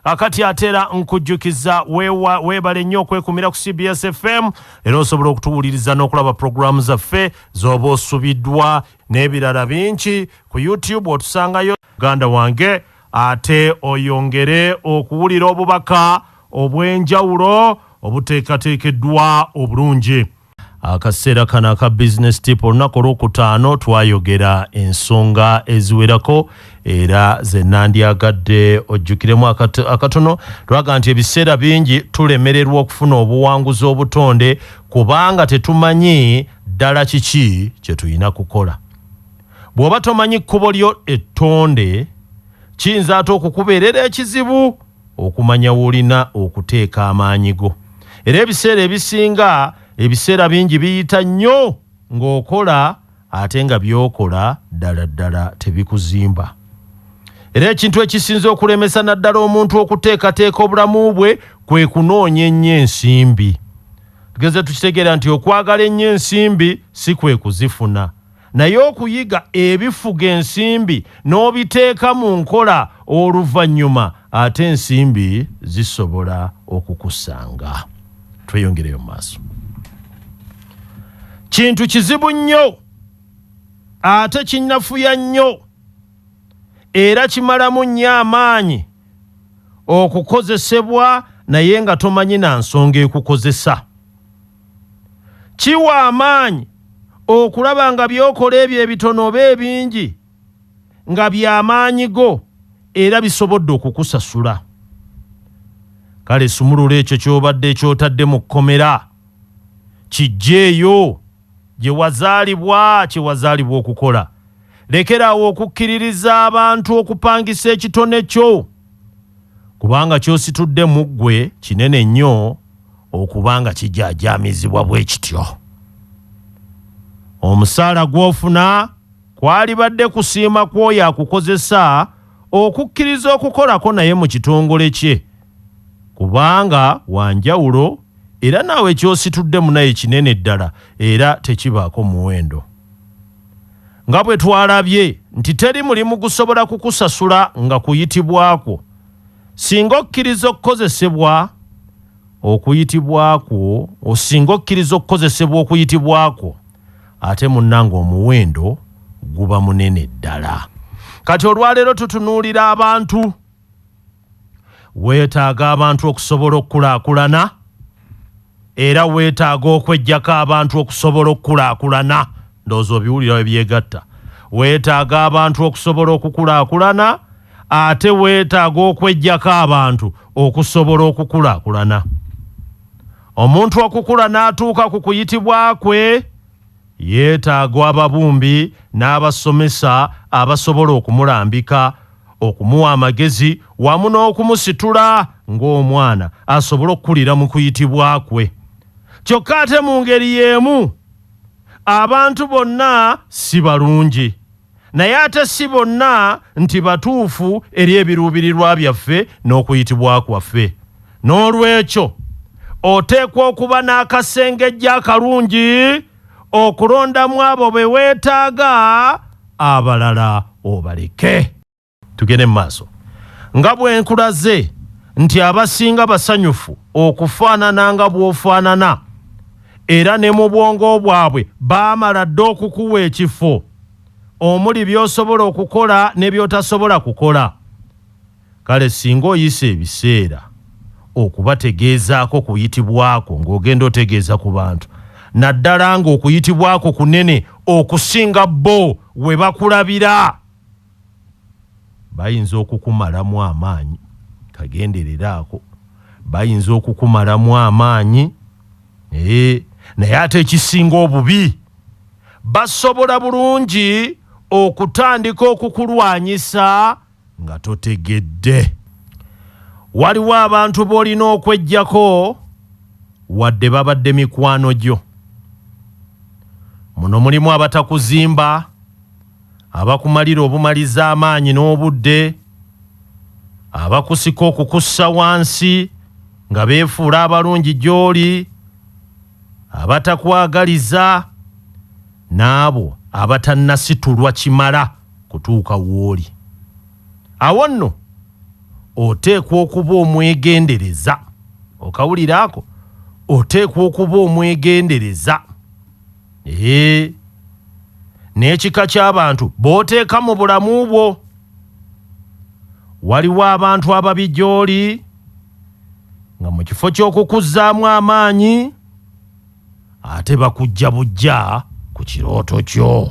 Akati atera nkujjukiza wewa webale nnyo okwekumira ku CBS FM era osobola okutuwuliriza n'okulaba programu zaffe z'oba osubiddwa n'ebirala bingi ku YouTube otusangayo muganda wange ate oyongere okuwulira obubaka obw'enjawulo obuteekateekeddwa obulungi. Akaseera kano aka Business Tip olunaku olwokutaano twayogera ensonga eziwerako era ze nandyagadde ojjukiremu akatono lwaga nti ebiseera bingi tulemererwa okufuna obuwanguzi obutonde kubanga tetumanyi ddala kiki kye tulina kukola. Bw'oba tomanyi kkubo lyo ettonde kiyinza ate okukubeerera ekizibu Okumanya w'olina okuteeka amaanyi go. Era ebiseera ebisinga, ebiseera bingi biyita nnyo ng'okola ate nga by'okola ddala ddala tebikuzimba. Era ekintu ekisinze okulemesa naddala omuntu okuteekateeka obulamu bwe kwe kunoonya ennyo ensimbi. Tugenze tukitegeera nti okwagala ennyo ensimbi si kwe kuzifuna. naye okuyiga ebifuga ensimbi n'obiteeka mu nkola oluvannyuma ate ensimbi zisobola okukusanga. Tweyongereyo mu maaso. Kintu kizibu nnyo ate kinafuya nnyo era kimalamu nnyo amaanyi okukozesebwa naye nga tomanyi na nsonga ekukozesa. Kiwa amaanyi okulaba nga by'okola ebyo ebitono oba ebingi nga bya maanyi go era bisobodde okukusasula. Kale sumulula ekyo ky'obadde ky'otadde mu kkomera, kiggyeeyo gye wazaalibwa kye wazaalibwa okukola. Lekera awo okukkiririza abantu okupangisa ekitone kyo. kubanga ky'ositudde mu ggwe kinene nnyo okuba nga kijaajaamizibwa bwe kityo. Omusaala gw'ofuna kwalibadde kusiima kw'oyo akukozesa okukkiriza okukolako naye mu kitongole kye kubanga wa njawulo era naawe ky'ositudde munaye kinene ddala era tekibaako muwendo. Nga bwe twalabye nti teri mulimu gusobola kukusasula nga kuyitibwa kwo, singa okkiriza okukozesebwa okuyitibwa kwo, singa okkiriza okukozesebwa okuyitibwa kwo, ate munnange omuwendo guba munene ddala. Kati olwaleero tutunuulira abantu. Weetaaga abantu okusobola okukulaakulana era weetaaga okweggyako abantu okusobola okukulaakulana. Ndowooza obiwulira we byegatta. Weetaaga abantu okusobola okukulaakulana ate weetaaga okweggyako abantu okusobola okukulaakulana. Omuntu okukula n'atuuka ku kuyitibwa kwe, Yeetaaga ababumbi n'abasomesa abasobola okumulambika, okumuwa amagezi wamu n'okumusitula ng'omwana asobole okukulira mu kuyitibwa kwe. Kyokka ate mu ngeri y'emu abantu bonna si balungi. Naye ate si bonna nti batuufu eri ebiruubirirwa byaffe n'okuyitibwa kwaffe. N'olwekyo, oteekwa okuba n'akasengejja akalungi okulondamu abo be weetaaga, abalala obaleke. tugende mu maaso nga bwe nkulaze nti abasinga basanyufu okufaanana nga bw'ofaanana era ne mu bwongo bwabwe baamala dda okukuwa ekifo omuli by'osobola okukola ne by'otasobola kukola kale singa oyisa ebiseera okubategeezaako kuyitibwako ng'ogenda otegeeza ku bantu naddala ng'okuyitibwako kunene okusinga bo we bakulabira Bayinza okukumalamu amaanyi. Kagenderere ako. Bayinza okukumalamu amaanyi. Naye, naye ate ekisinga obubi, basobola bulungi okutandika okukulwanyisa nga totegedde. Waliwo abantu b'olina okweggyako wadde babadde mikwano gyo. Muno mulimu abatakuzimba. abakumalira obumaliza amaanyi n'obudde, abakusika okukussa wansi nga beefuula abalungi gy'oli, abatakwagaliza, n'abo abatannasitulwa kimala kutuuka w'oli. Awo nno oteekwa okuba omwegendereza. Okawulira ako? Oteekwa okuba omwegendereza. n'ekika ky'abantu b'oteeka mu bulamu bwo waliwo abantu ababi gy'oli nga mu kifo ky'okukuzzaamu amaanyi ate bakujja bujja ku kirooto kyo.